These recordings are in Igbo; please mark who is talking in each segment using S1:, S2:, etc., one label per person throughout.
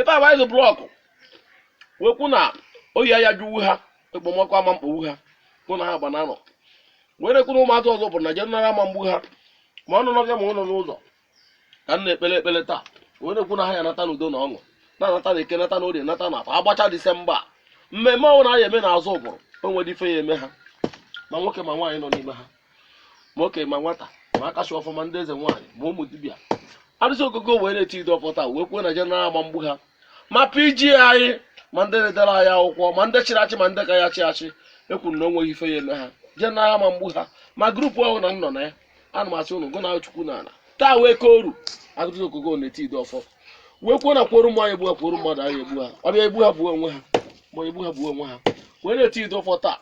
S1: ebe a waiz blọkụ wee kwu na oyi aya jụwu ha ekpomọkụ ama mkpogbu ha gụ na aha gba na anọ wee na-ekwu na ụmụazị Ozubulu na jeneral ama mgbu ha ma ọ nọ n'ọbịa ma ọ nọ n'ụzọ ka m na-ekpele ekpele taa wee na-ekwu na ha ya nata n'udo na ọṅụ na-anata na eke nata na orie nata na afọ agbacha disemba a. mmemme ọbụna a ya eme na Ozubulu o nwerọ ife ya eme ha ma nwoke ma nwaanyị nọ n'ime ha ma okenye ma nwata ma aka ji ọfọ ma ndị eze nwaanyị ma ụmụ dibịa arụsị ogogo wee na-eti ido ọfọ taa wee kwuo na jeneral ama mgbu ha ma pg anyị ma ndị na-edere anyị akwụkwọ ma ndị chịrị achị ma ndị ka ya chị achị ekwuru na o nweghị ife ya eme ha jeneral ama mgbu ha ma grupu ahụ na m nọ na ya ana m asị unu gụ na chukwu na ala taa wee kọọrụ arụsị ogogo na-eti ido ọfọ wee kwuo na kworo mmụọ anyị egbu ha kworo mmadụ anyị egbu ha ọbịa egbu ha gbuo onwe ha ma egbu ha gbuo onwe ha wee na-eti ido ọfọ taa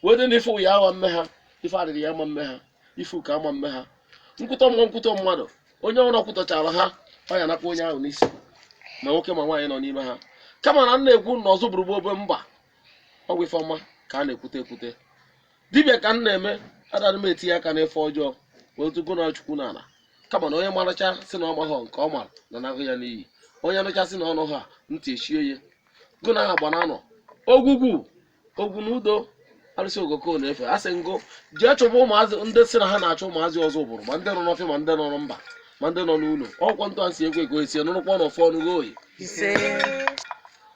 S1: wee dị na ife ya ama mme ha ife adịrị ya ama mme ha ife ụka ama mme ha nkwutọ mmụọ nkwutọ mmadụ onye ọbụna kwutọchara ha ọ ya nakwa onye ahụ n'isi ma nwoke ma nwaanyị nọ n'ime ha kama na m na-ekwu na Ozubulu bụ obe mba ọ bụ ife ọma ka a na-ekwute ekwute dibịa ka m na-eme adara m etinye aka n'ife ọjọọ wee tugo na chukwu na ala kama na onye maracha sị na ọ maghọ nke ọ mara na nahụ ya n'iyi onye nụcha sị na ọ nụha ntị echie ya gụ na aha gba na anọ ogwugwu ogwu na udo arụsị ogoko nụ ife a sị ngụ jee chụba ụmụazị ndị sị na ha na-achụ ụmụazị Ozubulu ma ndị nọ n'ọfịa ma ndị nọ na mba ma ndị nọ n'ụlọ ọkwọ ntụ a si ekwe ka o esie nụrụkwa n'ọfọ ọnụgo oyi ise